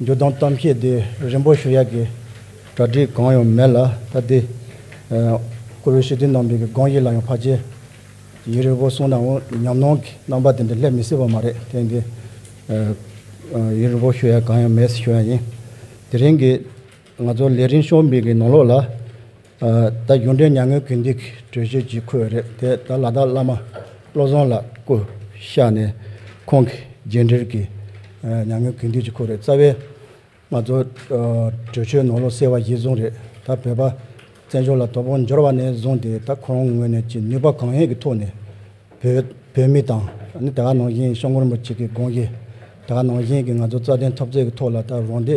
འགྱུར་ལྡོག་གཏམ་བཤད་དེ་རིན་པོ་ཞུ་ཡག་གི་གྲ་སྒྲིག་གང་ཡང་མེད་ལ་ད་ལྟའི་བཀུར་འོས་ཞུ་དུས་ནང་པའི་སྒང་ཞིག་ལ་ཡང་བར་ཆད་ཡིན་རེད་བོ་གསུངས་ནའང་ཉམས་སྣང་གི་རྣམ་པ་དེ་འདྲ་སླེབས་མི་སྲིད་པ་མ་རེད་དེང་གི་ཡིན་རིན་པོ་ཞུ་ཡག་གང་ཡང་མེད་ཟེར་ཞུ་ཡག་ཡིན་དེ་རིང་གི་ང་ཚོ་ལས་རིན་ཤོར་མིག་གི་ནང་ལོགས་ལ། ད་གཞུང་འབྲེལ་མྱ་ངན་གུས་འདུད་ཀྱི་གྲོས་ཆོད་ཅིག་འཁུར་བ་རེད་དེ་ད་ལ་དྭགས་བླ་མ་བློ་བཟང་ལ་སྐུ་གཤགས་ནས་ཁོང་གི་རྗེས་འབྲེལ་གྱི་མྱ་ངན་གུས་འདུད་ཅིག་འཁུར་བ་རེད་རྩ་བའི་ང་ཚོ་གྲོས་ཆོད་ནོར་ལོག་སེལ་བ་གཞིར་བཟུང་རེད་ད་བོད་པ་བཙན་བྱོལ་ལ་དོ་དགོང་འབྱོར་བ་ནས་བཟུང་སྟེ་ད་ཁོ་རང་ངོས་ནས་ཀྱི་ནུས་པ་གང་ཡོད་ཀྱི་ཐོག་ནས་བོད་བོད་མི་དང་ནི་དེ་ག་ནང་བཞིན་ཤོག་ངོར་མོ་གཅིག་གི་དགོངས་གཞི་དེ་ག་ནང་བཞིན་གྱི་ང་ཚོ་རྩ་དོན་འཐབ་རྩོད་ཀྱི་ཐོག་ལ་ད་རང་སྡེ།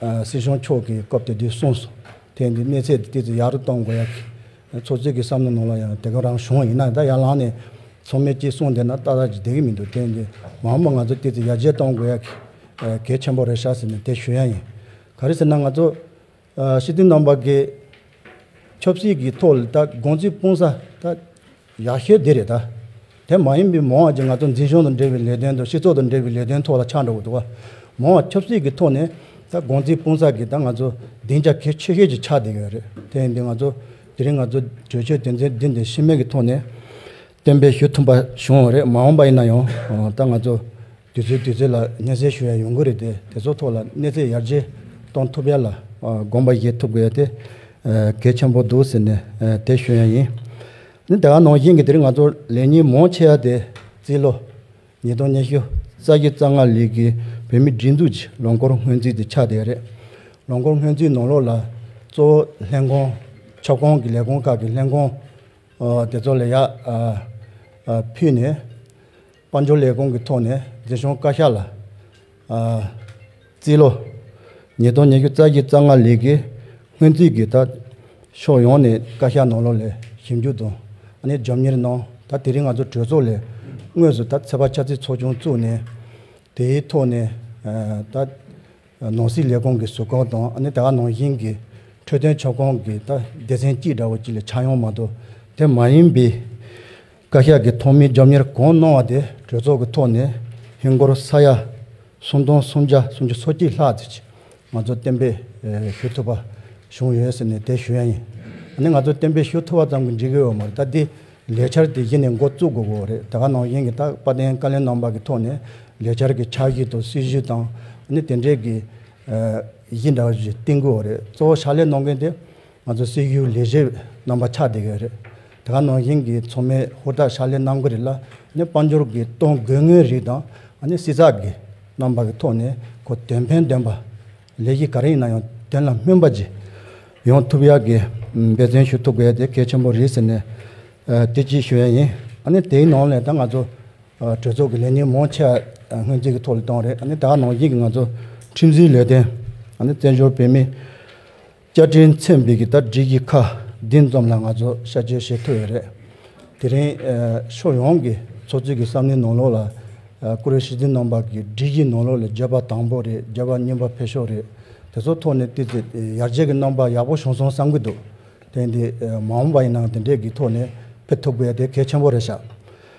སྲིད་གཞུང་མཆོག་གིས་སྐབས་དེ་དུས་གསུངས་སོང། ཐེངས་འདིའི་གནས་ཚད་དེ་དུས་ཡག་རུ་གཏོང་དགོས་ཡ། ཚོགས་གཙོས་ཀྱི་བསམ་བློའི་ནང་ལ་ཡང་དེ་ག་རང་བྱུང་ཡིན་ན་ད་ཡར་ལངས་ནས་ཚོགས་མི་གཅིག་གསུངས་བསྡད་ན་ཏག་ཏག་ཅིག་བསྡད་ཀྱི་མི་འདུག་དེ་འདི་མང་པོ་ང་ཚོ་དེ་དུས་ཡར་རྒྱས་གཏོང་དགོས་ཡ། གལ་ཆེན་པོ་རེད་ཤག་ཟེར་ནས་དེ་ཞུ་ཡ་ཡིན། ག་རེ་ཟེར་ན་ང་ཚོ། སྲིད་དོན་རྣམ་པ་འགས། ཆབ་སྲིད་ཀྱི་ཐོག་ལ་ད་དགོངས་ཚུལ་སྤུངས་ས་ད། ཡག་ཤོས་དེ་རེད་ད། དེ་མ་ཡིན་པའི་མོ་ཨ་ཅེ་ང་ཚོ་འཛིན་སྐྱོང་དང་འབྲེལ་བའི་ལས་དོན་དང་སྤྱི་ཚོགས་དང་འབྲེལ་བའི་ལས་དོན་ཐོག་ལ་ཆགས་འགྲོ་གི་འདུག་ག། མོ་ཨ་ཆབ་སྲིད་ཀྱི་ཐོག་ནས་ད་དགོང་ཚིག་སྤུང་ས་ཀྱི་ད་ང་ཚོ་སྡིངས་ཆ་གལ་ཆེ་ཤོས་ཀྱི་ཆགས་བསྡད་ཀྱི་ཡོད་རེད་དེ་ཡིན་དུས་ང་ཚོ་དེ་རིང་ང་ཚོ་གྲོས་ཆོད་དོན་ཚན་འདི་འདི་ཤི་རྨས་ཀྱི་ཐོག་ནས་གཏན་འབེབས་ཞུ་ཐུབ་པ་བྱུང་བ་རེད་མ་འོངས་པ་ཡིན་ན་ཡང་ད་ང་ཚོ་དུས་ཚོད་དུས་ཚོད་ལ་སྙན་གསེང་ཞུ་ཡང་ཡོང་གི་རེད་དེ་དེ་ཚོ་ཐོག་ལ་གནས་ཚད་ཡར་རྒྱས་གཏོང་ཐུབ་ཡ་ལ། དགོངས་པ་བཞེས་ཐུབ་དགོས་ཡ་དེ་གལ་ཆེན་པོ་འདུག་ཟེར་ནས་དེ་ཞུ་ཡང་ཡིན། ནི་དེ་ག་ནང་བཞིན་གྱི་དེ་རིང་ང་ཚོ་ལས་ཉིན་མོ་ཆེ་ཡ་དེ་རྩིས་ལོ་ཉིས་སྟོང་ཉི་ཤུ་རྩ་བཞི་རྩ་ལྔ་ལོའི་གི་བོད་མིའི་སྒྲིག་འཛུགས་ཀྱི་ལོ་འཁོར་སྔོན་རྩིས་དེ་ཆགས་བསྡད་ཡ་རེད། ལོ་འཁོར་སྔོན་རྩིས་ནང་ལོགས་ལ་གཙོ་བོ་ལྷན་ཁང་ཁྱབ་ཁོངས་ཀྱི་ལས་ཁུངས་ཁག་གི་ལྷན་ཁང་དེ་ཚོ་ལ་ཡར་ཕུད་ནས། དཔལ་འབྱོར་ལས་ཁུངས་ཀྱི་ཐོག་ནས་མཛེས་ལྗོངས་བཀའ་ཤག་ལ། རྩིས། ལོ་ཉིས་སྟོང་ཉི་ཤུ་རྩ་བཞི་རྩ་ལྔ་ལས་ཀའི་སྔོན་རྩིས་ཀྱི་དག་ཕྱོགས་ཡོངས་ནས་བཀའ་ཤག་ནང་ལོགས་ལས་ཞིབ་འཇུག་དང་གནས་འཇོམས་གཉེར་གནང་ད་དེ་རིང་ང་ཚོ་གྲོས་ཚོགས་ལས་དངོས་སུ་ད་ཚེ་བ་ཆབ་སྲིད་ཚོགས་ཆུང་བཙུགས་ནས། དེའི་ཐོག་ནས་ད་ནང་སྲིད་ལས་ཁུངས་ཀྱི་ཟུར་བཀོལ་དང་ད་ག་ནང་བཞིན་གྱི་འཕྲོད་བསྟེན་ཕྱོགས་གང་གི་ད་སྡེ་ཚན་གཅིག་འདྲ་བོ་གཅིག་ལས་ཆགས་ཡོང་མ་གཏོགས་དེ་མ་ཡིན་པའི། བཀའ་ཤག་གི་ཐོག་མའི་རྒྱབ་གཉེར་གང་གནང་བ་དེ་གྲོས་ཚོགས་ཀྱི་ཐོག་ནས་ཧིན་སྒོར་ས་ཡ་སུམ་སྟོང་སུམ་བརྒྱ་སུམ་ཅུ་སོ་གཅིག་ལྷག་ཅིག་ང་ཚོ་གཏན་འབེབས་ཞུ་ཐུབ་པ་བྱུང་ཡོད་ཟེར་ནས་དེ་ཞུ་ཡ་ཡིན། ནི་ང་ཚོ་གཏན་འབེབས་ཞུ་ཐུབ་པ་ཙམ་གྱི་འགྲིག་གི་ཡོད་མ་རེད་ད་དེ་ལས་འཆར་དེ་གཞི་ནས་འགོ་བཙུགས་དགོས་གི་རེད་ད་ག་ནང་བཞིན་གྱི་ད་དཔལ་ལྡན་བཀའ་བློན་རྣམ་པ་གྱི་ཐོག་ནས་ལས་འཆར་གྱི་འཆར་གཞི་དང་སྲིད་ཇུས་དང་ནི་དེ་འབྲེལ་གྱི་གཞི་འདྲ་བ་ཞིག་བཏིང་དགོས་གི་རེད་གཙོ་བོ་ཕྱག་ལས་གནང་མཁན་དེ། ང་ཚོའི་སྲོལ་རྒྱུན་ལས་གཞི་རྣམ་པ་ཆགས་བསྡད་ཀྱི་རེད། དེ་ག་ནང་བཞིན་གྱི་ཚོགས་མི་ཧུར་ཐག་ཕྱག་ལས་གནང་གི་རེད་ལ་ནི་དཔལ་འབྱོར་གྱི་གཏོང་སྒོའི་དངོས་རིགས་དང་ནི་བསྲི་ཚགས་ཀྱི་རྣམ་པ་གི་ཐོག་ནས་གོ་དོན་ཕན་ལྡན་པ། ལས་གཞི་ག་རེ་ཡིན་ན་ཡང་དོན་ལ་སྨིན་པ་བྱེད་ཡོང་ཐུབ་ཡག་གི་འབད་བརྩོན་ཞུ་ཐུབ་དགོས་དེ་གལ་ཆེན་པོ་རེད་ཟེར་ནས་བསྟོད་ཚིག་ཞུ་ཡ་ཡིན། དེའི་ནང་ལས་དང་ང་ཚོ་གྲོས་ཚོགས་ཀྱི་ལས་ཉིན་མོ་ཆེ་སྔོན་རྩིས་ཀྱི་ཐོག་ལས་དང་རེད་དེ་ག་ནང་བཞིན་གྱི་ང་ཚོ་ཁྲིམས་བཟོའི་ལས་དོན། བཙན་བྱོལ་བོད་མིའི་བསྐྱར་དྲིན་མཚོན་འབིག་གི་དར་འབྲི་གི་ཁ་བདུན་འཛོམས་ལ་ང་ཚོ་བཤད་བཅོས་བྱེད་ཐུབ་ཡོད་རེད། དེ་རིང་ཕྱོགས་ཡོངས་ཀྱི་ཚོགས་གཙོས་ཀྱི་ས་གནས་ནང་ལོགས་ལ་ཀུ་རེ་ཤི་འཛིན་གནང་བར་གྱི་འབྲི་གི་ནང་ལོགས་ལས་བརྗོད་པ་དང་པོ་རེད་བརྗོད་པ་སྙན་པ་འཕེལ་ཤོག་རེད་དེ་ཚོ་ཐོག་ནས་བལྟས་ཚེ་ཡར་རྒྱས་ཀྱི་རྣམ་པ་ཡག་པོ་བྱུང་སོང་བསམ་གྱི་འདུག་དེང་དུས་མ་འོངས་པ་ཡིན་ནའང་དེ་འདྲས་ཀྱི་ཐོག་ནས་ཕེབས་ཐུབ་དགོས་དེ་གལ་ཆེན་པོ་རེད་ཤག་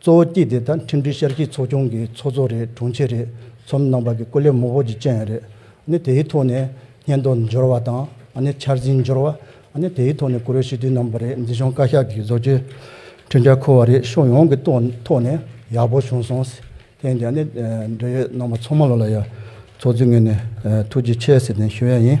གཙོ་བོ་སྐྱིད་དེ་ད་ཁྲིམས་སྒྲིག་ཤར་གཞིས་ཚོགས་ཆུང་གི་ཚོགས་གཙོ་རེད་དྲུང་ཆེ་རེད་ཚོམ་གནང་བ་གི་སྐུ་ལས་མོ་བོ་ཅི་ཅན་རེད་ནི་དེའི་ཐོག་ནས་སྙན་ཐོ་འབྱོར་བ་དང་ནི་འཆར་ཟིན་འབྱོར་བ་ནི་དེའི་ཐོག་ནས་གུ་རུ་ཞི་དུལ་གནང་བ་རེད་འདི་གཞུང་བཀའ་ཤག་གི་བཟོ་བཅོས་ཁྲི་འབྲལ་ཁོ་བ་རེད་ཕྱོགས་ཡོངས་ཀྱི་ཐོག་ནས་ཡག་པོ་བྱུང་སོང་ཟེར་ཐེངས་འདི་ནི་འབྲེལ་ཡོད་གནང་བ་ཚོགས་མང་ལོ་ལ་ཡ་ཚོགས་ཚུད་ངོས་ནས་ཐུགས་རྗེ་ཆེ་ཟེར་ནས་ཞུ་ཡ་ཡིན།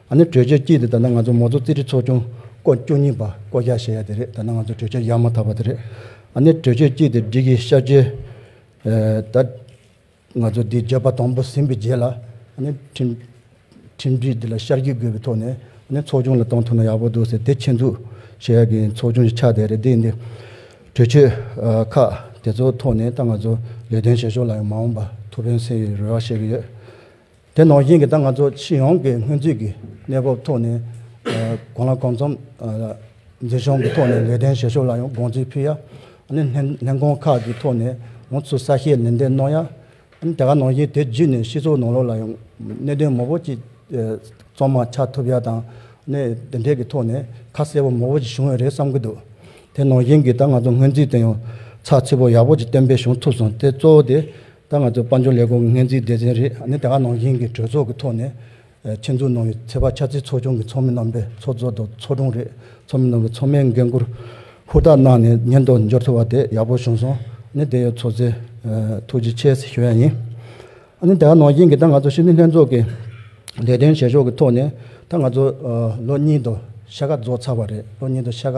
ཨ་ནི་གྲོས་ཆོད་སྤྱི་འདི་ད་ནང་ང་ཚོ་མོ་གཙོ་རྩིས་ཁྲི་ཚོགས་ཆུང་བསྐོ་བཅུ་གཉིས་པ་བསྐོ་བཞག་བྱས་ཡ་དེ་རེད་ད་ནང་ང་ཚོ་གྲོས་ཆོད་ཡག་མ་ཐག་པ་དེ་རེད་ཨ་ནི་གྲོས་ཆོད་སྤྱི་དེ་སྒྲིག་གི་ཤར་རྗེས་ད་ང་ཚོ་འདི་བརྗོད་པ་དང་པོ་ཟིན་པའི་རྗེས་ལ་ཨ་ནི་ཁྲིམས་ཁྲིམས་སྒྲིག་འདི་ལ་ཤར་གྱི་དགོས་པའི་ཐོག་ནས་ཨ་ནི་ཚོགས་ཆུང་ལ་བཏང་ཐུབ་ན་ཡག་པོ་འདུག་ཟེར་དེ་ཆེད་འཛུགས་བྱས་ཡ་གི་ཚོགས་ཆུང་གི་ཆ་དེ་རེད་འདི་འདི་གྲོས་ཆོད་ཁག་དེ་ཚོ་ཐོག་ནས་ད་ང་ཚོ་ལས་དོན་བྱེད་ཕྱོགས་ལ་ཡང་མ་འོངས་པ་ཐུགས་ཕན་སེ་ཡོད་རེ་བ་བཤད་གི་ཡོད་དེ་ནང་བཞིན་གྱི་ད་ང་ཚོ་ཕྱི་ཡོང་གི་སྔོན་རྩིས་ཀྱི་གནས་བབ་ཐོག་ནས་གང་ལ་གང་འཚམ་མཛེས་ལྗོངས་ཀྱི་ཐོག་ནས་ལས་དོན་བྱེད་ཕྱོགས་ལ་ཡང་དགོངས་ཚུལ་ཕུལ་ཡ། ལྷན་ཁང་ཁག་གི་ཐོག་ནས་ཡང་ཚུལ་གསལ་བཤད་ནན་ཏན་གནང་ཡ། དེ་ག་ནང་བཞིན་དེ་བརྒྱུད་ནས་སྤྱི་ཚོགས་ནང་ལོགས་ལ་ཡང་གནད་དོན་མང་བོ་ཅིག་གཙང་མ་ཆགས་ཐུབ་ཡ་དང། དེ་འབྲེལ་གྱི་ཐོག་ནས་ཁ་གསལ་བོ་མང་བོ་ཅིག་བྱུང་ཡོད་རེད་བསམ་གྱི་འདུག་དེ་ནང་བཞིན་གྱི་ད་ང་ཚོ་སྔོན་རྩིས་དེ་ཡང་ཚགས་ཚུད་པོ་ཡག་པོ་ཅིག་གཏན་འབེབས་བྱུང་ཐུབ་སོང་དེ་གཙོ་བོ་དེ་ད་ང་ཚོའི་དཔལ་འབྱོར་ལས་སྒོ་ངན་རྩིས་སྡེ་ཚན་རེ་ནི་དེ་ག་ནང་བཞིན་གྱི་གྲོས་ཚོགས་ཀྱི་ཐོག་ནས་ཆེད་འཛུགས་གནང་བའི་ཚེ་བ་ཆ་རྩིས་ཚོགས་ཆུང་གི་ཚོགས་མི་རྣམ་པའི་ཚོགས་གཙོ་དང་ཚོགས་དྲུང་རེ་ཚོགས་མི་རྣམ་པའི་ཚོགས་མའི་འགན་ཁུར་ཧུར་ཐག་གནང་ནས་ཉེན་རྟོག་འབྱོར་ཐུབ་པ་དེ་ཡག་པོ་བྱུང་སོང་ནི་དེ་ཡོད་ཚོགས་གཙོས་ཐུགས་རྗེ་ཆེ་ཞུ་ཡ་ཡིན། ནི་དེ་ག་ནང་བཞིན་གྱི་ད་ང་ཚོ་ཕྱི་དྲིལ་ལྷན་ཚོགས་ཀྱི་ལས་དོན་བྱེད་ཕྱོགས་ཀྱི་ཐོག་ནས་ད་ང་ཚོ་ལོ་གཉིས་དང་ཕྱེད་ཀ་རྫོགས་ཚར་བ་རེད་ལོ་གཉིས་དང་ཕྱེད་ཀ་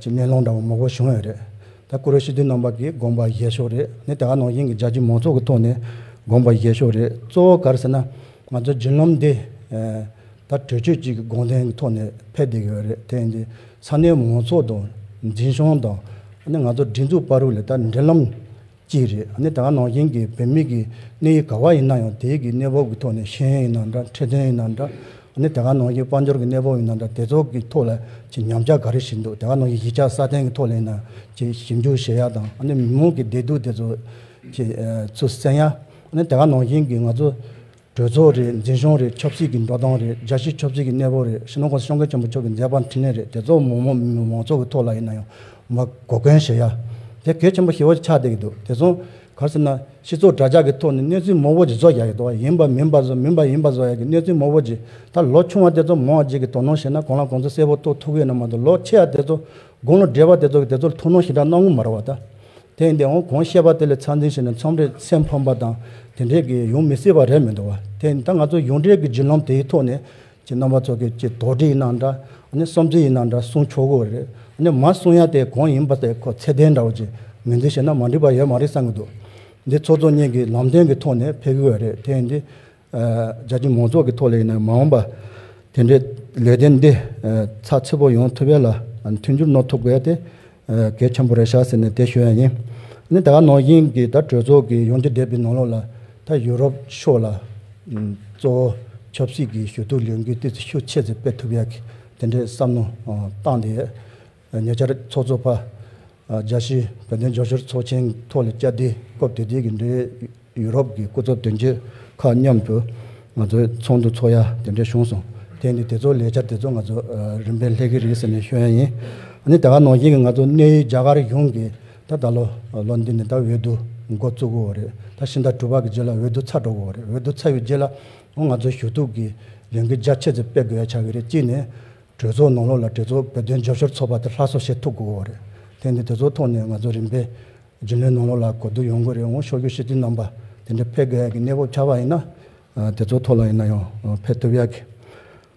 ཀྱི་མེ་ལོང་འདྲ་བོ་མོག་པོ་བྱུང་ཡོད་རེད། ད་ཀུ་རེ་ཤི་དུས་ནང་པ་གིས་དགོངས་པ་བཞེས་ཕྱོགས་རེད་ནི་དེ་ག་ནང་བཞིན་གྱི་རྒྱ་ཆེའི་མང་ཚོགས་ཀྱི་ཐོག་ནས་དགོངས་པ་བཞེས་ཕྱོགས་རེད་གཙོ་བོ་གར་ཟེར་ན་ང་ཚོའི་རྒྱུན་ལམ་འདི་ད་གྲོས་ཆོད་ཅིག་གི་དགོངས་དོན་གྱི་ཐོག་ནས་ཕེབས་བསྡད་ཀྱི་ཡོད་རེད་དེ་ཡིན་དུས་ས་གནས་མང་ཚོགས་དང་འཛིན་སྐྱོང་དང་ནི་ང་ཚོ་སྒྲིག་འཛུགས་པར་རུ་ལས་ད་འབྲེལ་ལམ་གཅིག་རེད་ནི་ད་ནང་བཞིན་གྱི་བོད་མི་གི་གནད་ཡིག་ག་བ་ཡིན་ན་ཡང་དེའི་གི་གནད་བབ་གི་ཐོག་ནས་ཤེས་ཡོན་ཡིན་ན་འདྲ་འཕྲལ་དོན་ཡིན་ན་འདྲ་ནི་ད་ནང་བཞིན་དཔའ་འབྱོར་གི་གནད་བབ་ཡིན་ན་འདྲ་དེ་ཚོ་གི་ཐོག་ལ་གི་ཉམས་ཆག་ག་རེ་ཞིག་འདུག་ད་ནང་བཞིན་གཞིས་ཆགས་སྲ་བརྟན་གི་ཐོག་ལ་ཡིན་ན་གི་ཞིབ་འཇུག་བྱེད་ཡ་དང་ནི་མི་མང་གི་བདེ་སྡུག་དེ་ཚོ་གི་ཚུ་གསན་ཡ་ནི་ད་ནང་བཞིན་གི་ང་ཚོ་གྲོས་ཚོགས་རེད་འཛིན་སྐྱོང་རེད་ཆབ་སྲིད་ཀྱི་འགྲོ་སྟངས་རེད་རྒྱ་ཆེའི་ཆབ་སྲིད་ཀྱི་གནས་བབ་རེད་ཤིན་ཏོག་ཤོང་ཁེ་ཆེན་པོ་མཆོག་གི་མཛད་པ་འཕྲིན་ལས་རེད་དེ་ཚོ་མོག་མོག་མིན་མིན་མང་ཚོགས་ཀྱི་ཐོག་ལ་ཡིན་ན་ཡང་མ་གོ་མཁན་ཞེ་ཡ་དེ་གལ་ཆེན་པོ་ཞེ་བོ་ཆགས་བསྡད་ཀྱི་འདུག་དེ་ཚོ་གར་ཟེར་ན་སྤྱི་ཚོགས་དྲྭ་ཇག་གི་ཐོག་ནས་གནས་ཚུལ་མོག་བོ་ཇི་བཟོ་ཡག་ཡག་དོ་ཡིན་པ་མིན་པ་བཟོ་མིན་པ་ཡིན་པ་བཟོ་ཡག་གི་གནས་ཚུལ་མོག་བོ་ཇི་ལྟར་ལོ་ཆུང་བ་དེ་ཚོ་མོག་བརྗེས་ཀྱི་དོ་སྣང་བྱེད་ན་གང་ལ་གང་ཚོད་གསལ་བོ་རྟོགས་ཐུབ་ཡོད་ན་མ་གཏོགས་ལོ་ཆེ་བ་དེ་ཚོ་དགུང་ལོ་བགྲེས་པ་དེ་ཚོ་གི་དེ་ཚོར་ཐུགས་སྣང་ཞེ་དྲག་གནང་ངོ་མ་རེད་བ་ད། དེ་ཡིན་དེའང་གོང་བཤད་པ་དེ་ལས་ཚང་ཚིང་བྱས་ནས་མཚམས་རེར་སེམས་ཕམ་པ་དང་དེ་འདྲས་ཀྱི་ཡོང་མི་སྲིད་པ་རེད་མི་འདུག་བ། དེ་ཡིན་ད་ང་ཚོ་ཡོངས་གྲས་ཀྱི་བརྒྱུད་ལམ་དེའི་ཐོག་ནས་ཀྱི་རྣམ་པ་ཚོ་གི་ཀྱི་དོགས་འདྲི་ཡིན་ན་འདྲ་ཨ་ནི་བསམ་ཚུལ་ཡིན་ན་འདྲ་གསུང་ཆོག་གི་རེད་ཨ་ནི་མ་གསུང་ཡ་དེ་གང་ཡིན་པ་དེ་ཁོ་ཚད་ལྡན་འདྲ་བ་ཅིག་མིན་འདུག་བྱས་ན་མ་འགྲིག་པ་ཡོད་མ་རེད་བསམ་གྱི་འདུག་འདི་ཚོགས་གཙོ་གཉིས་ཀྱི་ལམ་སྟོན་གྱི་ཐོག་ནས་ཕེབས་གི་བ་རེད་དེ་ཡིན་དུས་རྒྱ་ཆེའི་མང་ཚོགས་ཀྱི་ཐོག་ལས་ནས་མ་འོངས་པ་དེ་འདྲའི་ལས་དོན་འདི་ཚགས་ཚུད་པོ་ཡོང་ཐུབ་པའི་ལ་མཐུན་འགྱུར་གནོད་ཐུབ་དགོས་ཏེ། གལ་ཆེན་པོ་རེད་བྱ་ཟེར་ནས་དེ་ཞུ་ཡ་ཡིན། ནི་ད་ནང་བཞིན་གྱི་ད་གྲོས་ཚོགས་ཀྱི་ཡོང་རྒྱུ་འདས་པའི་ནང་ལོགས་ལ་ད་ཡུ་རོབ་ཕྱོགས་ལ་གཙོ་བོ་ཆབ་སྲིད་ཀྱི་ཞུ་གཏུག་ལས་འགུལ་དེ་ཚོ་ཤུགས་ཆེ་ཚེ་སྤེལ་ཐུབ་ཡ་གི་དེ་འདྲའི་བསམ་མནོ་བཏང་དེ། ཉེ་ཆར་ཚོགས་གཙོ་པཇཱ་ཤིས་བོད་དོན་འབྱོར་ཕྱིར་ཚོགས་ཆེན་ཐོག་ལ་བཅར་འདྲི་སྐབས་དེ་དུས་ཀྱི་འབྲེལ་ཡོད་རོབ་ཀྱི་སྐུ་ཚབ་དོན་གཅོད་ཁག་མཉམ་དུ་ང་ཚོའི་ཚོགས་འདུ་འཚོགས་ཡ་དེ་འདྲ་བྱུང་སོང་དེ་ནི་དེ་ཚོ་ལས་འཆར་དེ་ཚོ་ང་ཚོ་རིམ་པས་ལྷད་ཀི་རེད་ཟེར་ནས་ཤོད་ཡ་ཡིན་ནི་དེ་ག་ནང་བཞིན་གྱི་ང་ཚོ་གནས་ཡུལ་རྒྱ་གར་གཞུང་གིས་ད་ད་ལོ་ལོ་འདི་ནས་ད་འོས་བསྡུ་འགོ་བཙུགས་དགོས་རེད་ད་ཕྱི་ཟླ་དྲུག་པ་གི་རྗེས་ལ་འོས་བསྡུ་ཚར་འགྲོ་དགོས་རེད་འོས་བསྡུ་ཚར་ཡོད་རྗེས་ལ་ང་ཚོ་ཞུ་གཏུག་གི་ལས་འགུལ་རྒྱ་ཆེ་ཚད་སྤེལ་དགོས་ཡ་ཆགས་ཀྱི་རེད་གཅིག་ནས་གྲོས་ཚོགས་ནང་ལོགས་ལ་གྲོས་ཚོགས་བོད་དོན་རྒྱབ་སྐྱོར་ཚོགས་པ་དེ་ལྷ་སོགས་བྱེད་ཐུབ་དགོས་བོ་རེད། དེ་འདི་དེ་ཚོ་ཐོག་ནས་ང་ཚོ་རིམ་པས་རྒྱུན་ལས་ནང་ལོགས་ལ་གོ་བསྡུར་ཡོང་དགོས་རེད་འོང་ཤོག་གྱོད་གཞི་དེ་རྣམས་པ་དེ་འདྲ་འཕེལ་དགོས་ཡག་གི་གནས་བབ་ཆགས་པ་ཡིན་ན། དེ་ཚོ་ཐོག་ལ་ཡིན་ན་ཡང་འཕེལ་ཐུབ་ཡག་གི།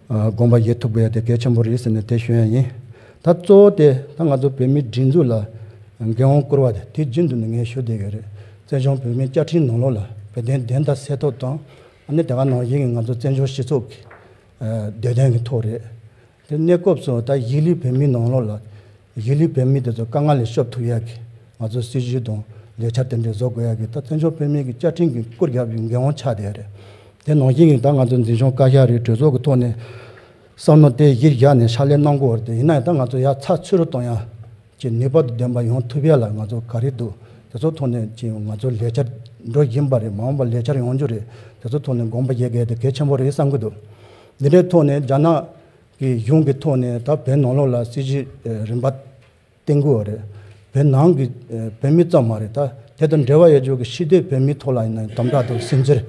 དགོངས་པ་བཞེས་ཐུབ་དགོས་ཡག་དེ་གལ་ཆེན་པོ་རེད་ཟེར་ནས་དེ་ཞུ་ཡག་ཡིན། ད་གཙོ་བོ་དེ་ད་ང་ཚོ་བོད་མིའི་སྒྲིག་འཛུགས་ལ་འགན་དབང་བསྐུར་བ་དེ་དེ་རྒྱུན་དུ་ནས་ངས་ཞུ་བསྡད་ཡོད་རེད། བཙན་བྱོང་བོད་མིའི་བཅའ་ཁྲིམས་ནང་ལོགས་ལ་བོད་དོན་བདེན་མཐའ་གསལ་ཐོབ་དང། ཨ་ནི་དེ་ག་ནང་བཞིན་གྱི་ང་ཚོ་བཙན་བྱོལ་སྤྱི་ཚོགས་ཀྱི་བདེ་ལྡན་གྱི་ཐོག་རེད། དེ་གནས་སྐབས་སུ་ད་གཞིས་ལུས་བོད་མིའི་ནང་ལོགས་ལ། གཞིས་ལུས་བོད་མི་དེ་ཚོ་དཀའ་ངལ་ལས་སྐྱོབ་ཐུབ་ཡག་གི། ང་ཚོའི་སྲིད་ཇུས་དང་ལས་འཆར་དེ་འདྲས་བཟོ་དགོས་ཡག་གི་ད་བཙན་བྱོལ་བོད་མིའི་གི་བཅའ་ཁྲིམས་ཀྱི་བསྐུར་རྒྱག་པའི་འགན་དབང་ཆགས་བསྡད་རེད། དེ་ནང་བཞིན་གྱི་ད་ང་ཚོའི་འཛིན་སྐྱོང་བཀའ་ཤག་རེད་གྲོས་ཚོགས་ཀྱི་ཐོག་ནས། བསམ་མནོ་དེ་གཞིར་བཞག་ནས་ཕྱག་ལས་གནང་དགོས་རེད་ཡིན་ན་ཡང་ད་ང་ཚོ་ཡག་ཚགས་ཚུལ་རུ་གཏོང་ཡག། ཀྱི་ནུས་པ་འདོན་པ་ཡོང་ཐུབ་ཡ་ལ་ང་ཚོ་ག་རེ་འདུག་དེ་ཚོ་ཐོག་ནས་ཀྱི་ང་ཚོ་ལས་འཆར་འགྲོ་བཞིན་པ་རེད་མ་འོངས་པ་ལས་འཆར་ཡོང་རྒྱུ་རེད་དེ་ཚོ་ཐོག་ནས་དགོངས་པ་བཞེས་གལ་དེ་གལ་ཆེན་པོ་རེད་བསམ་གྱི་འདུག་འདི་འདྲའི་ཐོག་ནས་རྒྱ་ནག་གི་གཞུང་གི་ཐོག་ནས་ད་བོད་ནང་ལོགས་ལ་སྲིད་ཇུས་རིམ་པ་བཏིང་དགོས་བ་རེད་བོད་ནང་གི་བོད་མི་ཙམ་མ་རེད་ད་དེ་དང་འབྲེལ་བ་ཡོད་ཆོག་གི་ཤི་དེ་བོད་མི་ཐོག་ལ་ཡིན་ན་དམ་དྲག་དང་སིམ་འཛེར་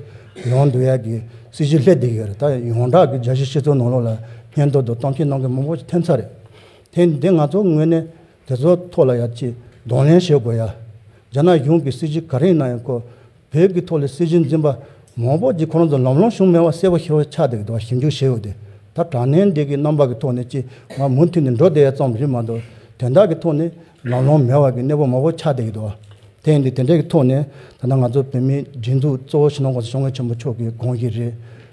ཡོང་འདུག་ཡ་གི་སྲིད་ཇུས་ལྷད་དེ་གི་རེད་ད་ཡོངས་གྲགས་གི་རྒྱ་གཞི་ཤི་ཚོ་ནང་ལོགས་ལ་སྙན་ཐོ་དང་གཏམ་བཤད་གནང་གི་མང་པོ་ཐེབས་ཚར་རེད། དེ་འདི་ང་ཚོ་ངོས་ནས་དེ་ཚོ་ཐོག་ལ་ཡག་ཅིག་གདོང་ལེན་བྱེད་དགོས་ཡ། རྒྱ་ནག་གཞུང་གི་སྲིད་བྱུས་ག་རེ་ཡིན་ན་ཡང་ཁོ་བོད་ཀྱི་ཐོག་ལ་སྲིད་བྱུས་འཛིན་པ་མང་པོ་ཅིག་ཁོ་རང་ཚོ་ལམ་ལོང་བྱུང་མེད་པ་གསལ་པོ་ཤེས་པ་ཆགས་འདུག་ཞིབ་འཇུག་བྱས་ཡོད་དེ་ད་དྲང་བདེན་འདི་གི་རྣམ་པ་གི་ཐོག་ནས་ཅིག་ང་མུ་མཐུད་ནས་འགྲོ་བསྡད་ཡ་ཙམ་རེད་མ་གཏོགས་དོན་དག་གི་ཐོག་ནས་རང་ནོར་མེད་བར་གྱི་གནས་བབ་མང་བོ་ཆགས་བསྡད་ཡོད་འདུག་དེ་ཡིན་དུས་དེ་འདྲའི་ཐོག་ནས་ད་ལྟ་ང་ཚོ་བོད་མིའི་སྒྲིག་འཛུགས་གཙོ་བོ་ཞིང་ནང་ཁོངས་སུ་ཤོག་ངེས་ཆེན་པོ་མཆོག་གིས་དགོངས་ཀྱི་རེད།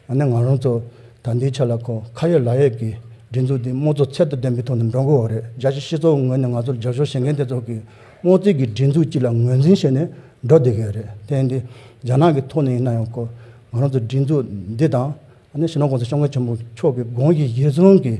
ཡང་ན་ང་རང་ཚོ་ད་འདིའི་ཆ་ལ་ཁོ་ཁ་ཡོད་ལག་ཡོད་ཀྱི་སྒྲིག་འཛུགས་འདི་དམངས་གཙོ་ཚད་དུ་ལྡན་པའི་ཐོག་ནས་འགྲོ་དགོས་བ་རེད་རྒྱ་ཆེའི་སྤྱི་ཚོགས་ངོས་ནས་ང་ཚོར་རྒྱབ་སྐྱོར་བྱེད་མཁན་དེ་ཚོ་གིས་དམངས་གཙོའི་གི་སྒྲིག་འཛུགས་གཅིག་ལ་ངོས་འཛིན་བྱས་ནས་འགྲོ་བསྡད་གི་རེད་དེ་ཡིན་དུས་རྒྱ་ནག་གི་ཐོག་ནས་ཡིན་ན་ཡང་ཁོ་ང་རང་ཚོ་སྒྲིག་འཛུགས་འདི་དང། ཡང་ན་ཞིང་ནང་ཁོངས་སུ་ཤོག་ངེས་ཆེན་པོ་མཆོག་གིས་དགོངས་ཀྱི་གཞིར་བཟུང་གིས།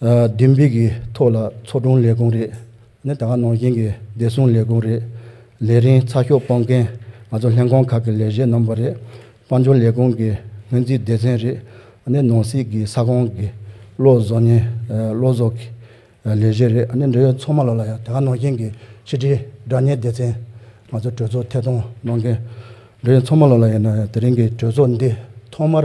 བདུན་སྤོས་ཀྱི་ཐོག་ལ་ཚོགས་དྲུང་ལས་ཁུངས་རེད། ནི་ད་སྔ་ནང་བཞིན་གྱི་བདེ་སྲུང་ལས་ཁུངས་རེད། ལས་རིང་ཚ་ཤོག་སྤོང་མཁན་ང་ཚོ་ལྷན་ཁང་ཁག་གི་ལས་བྱེད་རྣམ་པ་རེད། དཔལ་འབྱོར་ལས་ཁུངས་ཀྱི་སྔོན་རྩིས་སྡེ་ཚན་རེད། ནི་ནང་སྲིད་ཀྱི་ས་ཁོངས་ཀྱི་བློ་བཟོ་ནི་བློ་བཟོ་གི་ལས་བྱེད་རེད། ནི་འབྲེལ་ཡོད་ཚོགས་མ་ལ་ལ་ཡང་ད་སྔ་ནང་བཞིན་གྱི་ཕྱི་དྲིལ་དགྲ་གཉེན་སྡེ་ཚན་ང་ཚོ་གྲོས་ཚོགས་ཐད་གཏོང་གནང་མཁན། འབྲེལ་ཡོད་ཚོགས་མ་ལ་ལ་ཡང་ན་དེ་རིང་གི་གྲོས་ཚོགས་འདི་ཐོག་མར